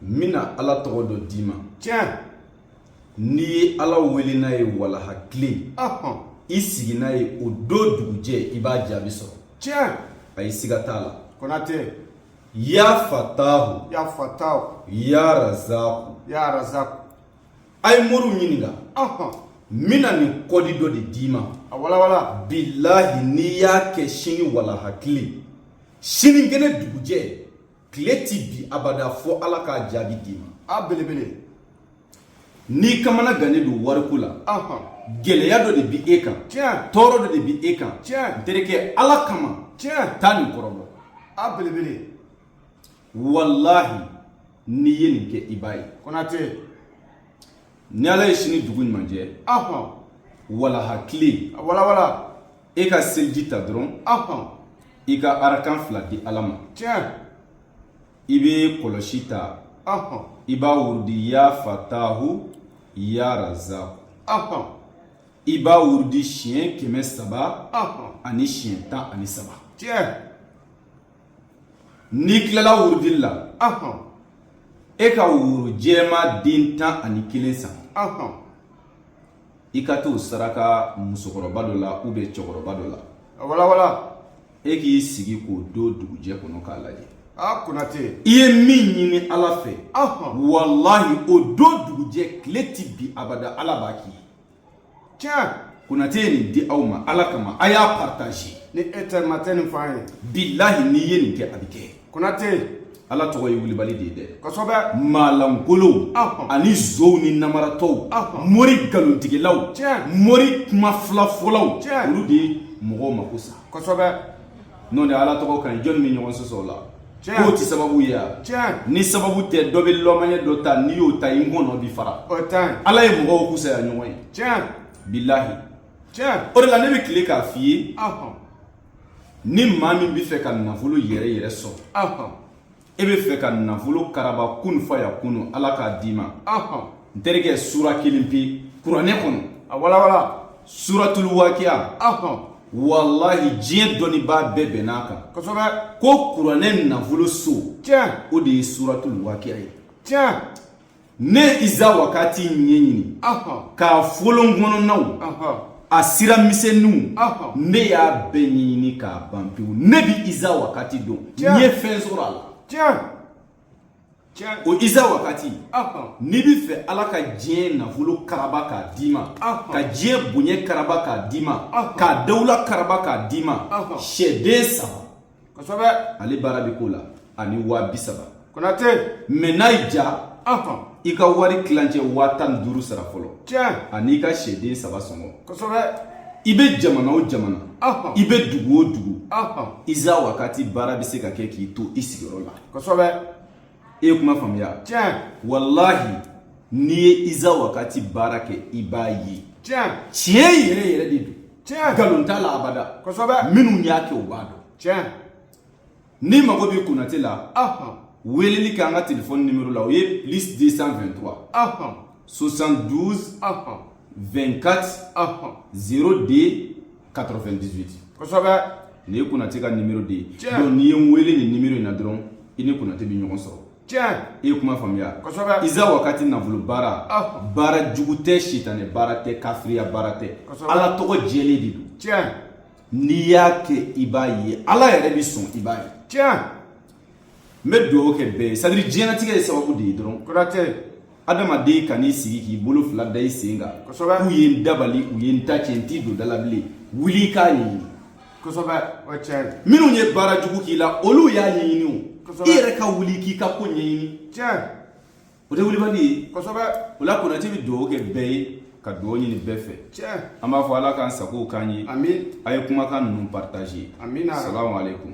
n bɛna ala tɔgɔ dɔ d'i ma tiɲɛ n'i ye ala wele n'a ye walaha tile ɔhɔn i sigi n'a ye o don dugujɛ i b'a jaabi sɔrɔ tiɲɛ ayi siga t'a la konate ya fatahu ya fatahu ya razaku ya razaku a ye moriw ɲininka ɔhɔn n bɛna nin kɔdi dɔ de d'i ma a walawala bilahi n'i y'a kɛ sini walaha tile sinikɛnɛ dugujɛ tile ti bi abada fo ala k'a jaabi d'i ma a belebele n'i kamana gannen don wariko la ahɔn gɛlɛya dɔ de bi e kan tiɲɛ tɔɔrɔ dɔ de bi e kan tiɲɛ n terikɛ ala kama tiɲɛ taa nin kɔrɔbɔ a belebele walahi n'i ye nin kɛ i b'a ye konate ni ala ye sini dugu ɲuman jɛ ahɔn walaha tile a walawala e ka seliji ta dɔrɔn i ka arakan fila di ala ma i bɛ kɔlɔsi ta i b'a wurudi ya fatahu ya razaku i b'a wurudi siɲɛ kɛmɛ saba ani siɲɛ tan ani saba n'i tilala wurudi la e ka woro jɛma den tan ani kelen san i ka t'o saraka musokɔrɔba dɔ la ou bien cɛkɔrɔba dɔ la a walawala e k'i sigi k'o don dugujɛ kɔnɔ k'a lajɛ a konate i ye min ɲini ala fɛ walahi o don dugujɛ tile tɛ bi abada ala b'a k'i ye tiɲɛ konate ye nin di aw ma ala kama a y'a partager ni e tɛ ma tɛ nin f'an ye bilahi n'i ye nin kɛ a bɛ kɛ konate ala tɔgɔ ye wulibali de ye dɛ kosɛbɛ maalankolow ani zow ni namaratɔw mori galontigɛlaw mori kuma filafɔlaw olu de ye mɔgɔw mako sa kosɛbɛ n'o tɛ ala tɔgɔ kan jɔnni bɛ ɲɔgɔn sɔsɔ o la k'o tɛ sababu ye wa ni sababu tɛ dɔ bɛ lɔmanye dɔ ta n'i y'o ta i ŋɔnɔ bi fara ala ye mɔgɔw kusaya ɲɔgɔn ye bilahi o de la ne bɛ tile k'a f'i ye ni maa min bɛ fɛ ka nafolo yɛrɛ yɛrɛ sɔrɔ ahɔn e bɛ fɛ ka nafolo karaba kun fa yakunu ala k'a d'i ma ahɔn n terikɛ sura kelen pe kuranɛ kɔnɔ a walawala suratul wakiya ahɔn walahi diɲɛ dɔnnibaa bɛɛ bɛnn'a kan kosɛbɛ ko kuranɛ nafolo so tiɲɛ o de ye suratul wakiya ye tiɲɛ ne iza wakati ɲɛɲini k'a folon kɔnɔnaw a sira misɛnninw ne y'a bɛɛ ɲɛɲini k'a ban pewu ne bɛ iza wakati dɔn n ye fɛn sɔrɔ a la o iza wakati n'i bɛ fɛ ala ka diɲɛ nafolo karaba k'a d'i ma ka diɲɛ bonya karaba k'a d'i ma ka dawula karaba k'a d'i ma sɛden saba kosɛbɛ ale baara bɛ k'o la ani waa bi saba konate mais n'a y'i ja ɔhɔn i ka wari tilancɛ waa tan ni duuru sara fɔlɔ tiɲɛ an'i ka sɛden saba sɔngɔ kosɛbɛ i bɛ jamana o jamana ɔhɔn i bɛ dugu o dugu ɔhɔn iza wakati baara bɛ se ka kɛ k'i to i sigiyɔrɔ la kosɛbɛ e ye kuma faamuya tiɲɛ walahi n'i ye iza wakati baara kɛ i b'a ye tiɲɛ tiɲɛ yɛrɛ yɛrɛ de don tiɲɛ nkalon t'a la abada kosɛbɛ minnu y'a kɛ u b'a dɔn tiɲɛ n'i mago bɛ konate la weleli kɛ an ka telefɔni nimero la o ye plus 223 72 24 02 98 kosɛbɛ nin ye konate ka nimero de ye Tiɲɛ. donc n'i ye n wele nin nimero in na dɔrɔn i ni konate bɛ ɲɔgɔn sɔrɔ tiɲɛ i ye kuma faamuya Kosɛbɛ. iza wakati nafolo baara Ah. baara jugu tɛ sitanɛ baara tɛ kafiriya baara tɛ Kosɛbɛ. ala tɔgɔ jɛlen de don tiɲɛ n'i y'a kɛ i b'a ye ala yɛrɛ bɛ sɔn i b'a ye tiɲɛ n bɛ dugawu kɛ bɛɛ ye c'est-à-dire diɲɛnatigɛ ye sababu de ye dɔrɔn kɔrɔtɛ adamaden kan'i sigi k'i bolo fila da i sen kan kosɛbɛ k'u ye n dabali u ye n ta cɛn t'i don da la bilen wuli k'a ɲɛɲini kosɛbɛ o tiɲɛ don minnu ye baara jugu k'i la olu y'a ɲɛɲini o Kosɛbɛ. i yɛrɛ ka wuli k'i ka ko ɲɛɲini tiɲɛ o tɛ wulibali ye kosɛbɛ o la konate bɛ dugawu kɛ bɛɛ ye ka dugawu ɲini bɛɛ fɛ tiɲɛ an b'a fɔ ala k'an sagow k'an ye ami a ye kumakan ninnu partager amina salamu aleykum